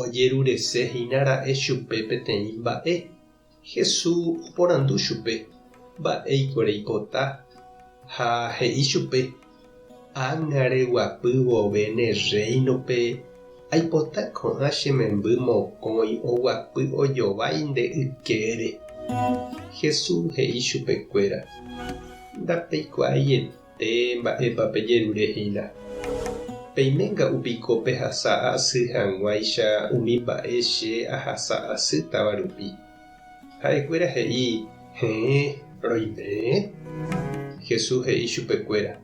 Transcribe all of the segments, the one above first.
Ojerurese hína ra'e chupe peteĩ mba'e. Jesús oporandu chupe mba'éiko reipota, ha he'i chupe, Ág̃a reguapy vove ne Rréinope, aipota ko'ã che memby mokõi oguapy ojovái nde ykére. Jesús he'i chupekuéra, Ndapeikuaaiete. Péi mba'épa pejerure hína? Peiménga'u piko pehasa asy hag̃uáicha umi mba'e che ahasa asýtava rupi? Ha'ekuéra he'i, Heẽ, roimee. Jesús he'i chupekuéra,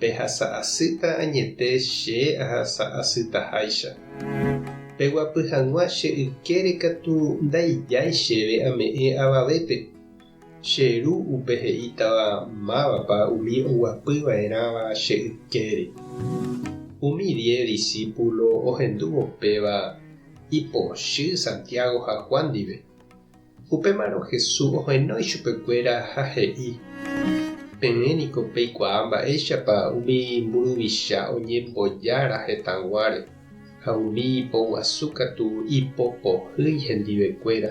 Pehasa asýta añete che ahasa asytaháicha. Peguapy hag̃ua che ykére katu ndaijái chéve ame'ẽ avavépe. Che ru upe he'ítava mávapa umi oguapyva'erãva che ykére. Umi diez disípulo ohendúvo péva ipochy Santiago ha Juan ndive. Upémarõ Jesús ohenói ichupekuéra ha he'i, Peẽ niko peikuaa mba'éichapa umi mburuvicha oñembojára hetãguáre ha umi ipoguasu katu ipopohýi hendivekuéra.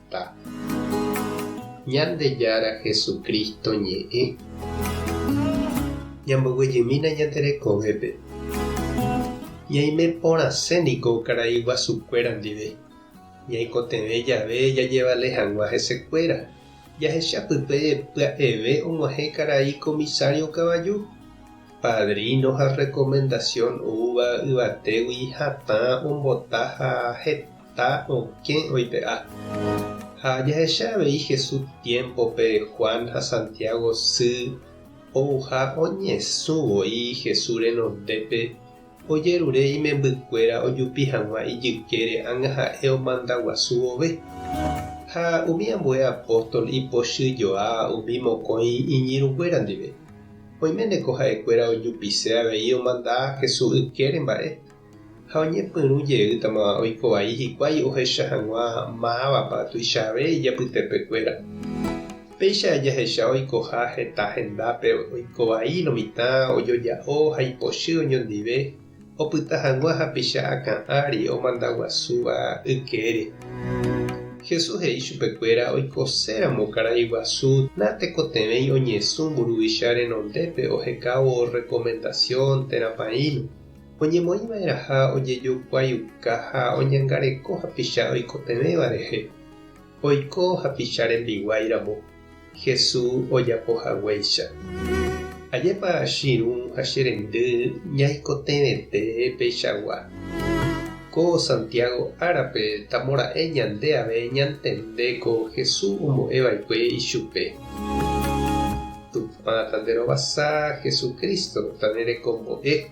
Ñandejára Jesucristo ñe'ẽ. Ñamboguejymína ñande rekovépe. Ñaime porãse niko karai guasukuéra ndive. Ñaikotevẽ jave jajevale hag̃ua hesekuéra, jahecha pype pya'eve og̃uahẽ karai comisario kavaju, padrino ha recomendación oúva yvatégui hatã ombota ha heta. ha okẽ oipe'a. Ha jahecha avei Jesús tiémpope Juan ha Santiago sy ouha oñesũ voi Jesús renondépe, ojerure imembykuéra ojupi hag̃ua ijykére angaha'e omanda guasu vove. Ha umi ambue apóstol ipochy joa umi mokõi iñirũkuéra ndive. Oiméne ko ha'ekuéra ojupise avei omanda Jesús ykére mba'e. Ha oñepyrũ jeýtama oiko vai hikuái ohecha hag̃ua mávapa tuichave ijapytepekuéra. Péicha jahecha oikoha heta hendápe oiko vai lo mitã ojoja'o ha ipochy oñondive opyta hag̃ua hapicha akã ári omanda guasúva ykére. Jesús he'i chupekuéra oikose ramo karai guasu natekotevẽi oñesũ mburuvicha renondépe ohekávo rekomendasión térã paĩlo. oñemoĩva'erãha ojejokuaiuka ha oñangareko hapicha oikotevẽva rehe, oiko hapicha rembiguái ramo, Hesu ojapo haguéicha. Ajépa chirũ ha che rendy ñaikotevẽte peichagua. Ko Santiago árape tamo ra'e ñande ave ñantende ko Hesu ombo'e vaikue ichupe. Tupã tanderovasa Hesu Cristo tanerekombo'e.